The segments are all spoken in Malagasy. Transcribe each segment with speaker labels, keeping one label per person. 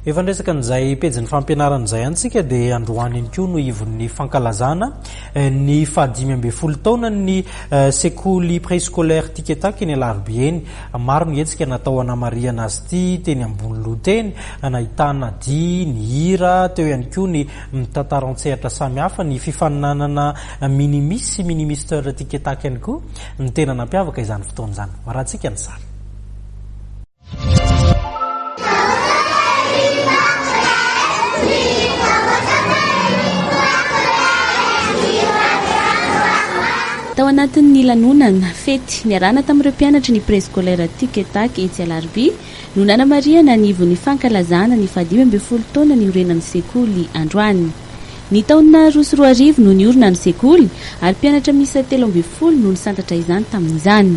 Speaker 1: Efa niresaka an'izay pejin'ny fampianarana izay ihany isika dia androany ihany koa no ivon'ny fankalazana eh, ny fahadimy ambin'ny folo taonan'ny eh, sekoly préscolaire Tiketaky eny Alarobia eny. Maro ny hetsika natao hanamarihana azy ity teny ambony loha teny, nahitana dihy, ny hira, teo ihany koa ny mitantara an-tsehatra samihafa, ny fifaninanana minimis sy minimister Tiketaky ihany koa ny tena nampiavaka izany fotoana izany. Marantsika ny sary.
Speaker 2: Tao anatin'ny lanonana, fety, niarahana tamin'ireo mpianatry ny Préscolaire Tic et Tac etsy Alarobia no nanamarihana ny ivon'ny fankalazana ny fahadimy ambin'ny folo taona niorenan'ny sekoly androany. Ny taona roa sy roa arivo no niorina ny sekoly ary mpianatra miisa telo ambin'ny folo no nisantatra izany tamin'izany.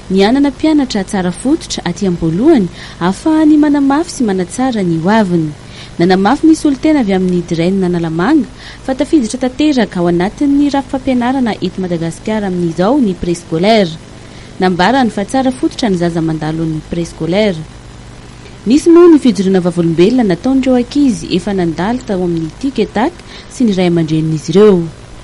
Speaker 2: Ny hanana mpianatra tsara fototra aty am-boalohany ahafahany manamafy sy manatsara ny ho aviny. Nanamafy ny solontena avy amin'ny Dren Analamanga fa tafiditra tanteraka ao anatin'ny rafi-pampianarana eto Madagasikara amin'izao ny Préscolaire. Nambarany fa tsara fototra ny zaza mandalo ny Préscolaire. Nisy moa ny fijoroana vavolombelona nataon'ireo ankizy efa nandalo tao amin'ny Tic et Tac sy ny ray aman-drenin'izy ireo.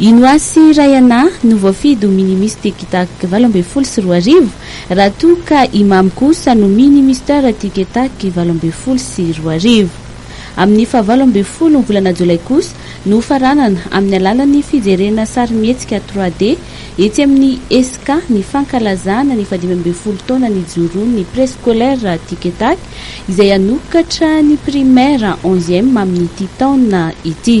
Speaker 2: I Noasy Rayana no voafidy ho Mini-Mister Kitac valo ambin'ny folo sy roa arivo, raha toa ka i Mamy kosa no Mini-Mister Tiketac valo ambin'ny folo sy roa arivo. Amin'ny fahavalo ambin'ny folo volana jolay kosa no hofaranana amin'ny alalan'ny fijerena sarimihetsika trois D Etsy amin'ny ESCA, ny fankalazana ny fahadimy ambin'ny folo taona nijoroan'ny Préscolaire Tic et Tac, izay hanokatra ny Primaire Onzième amin'ity taona ity.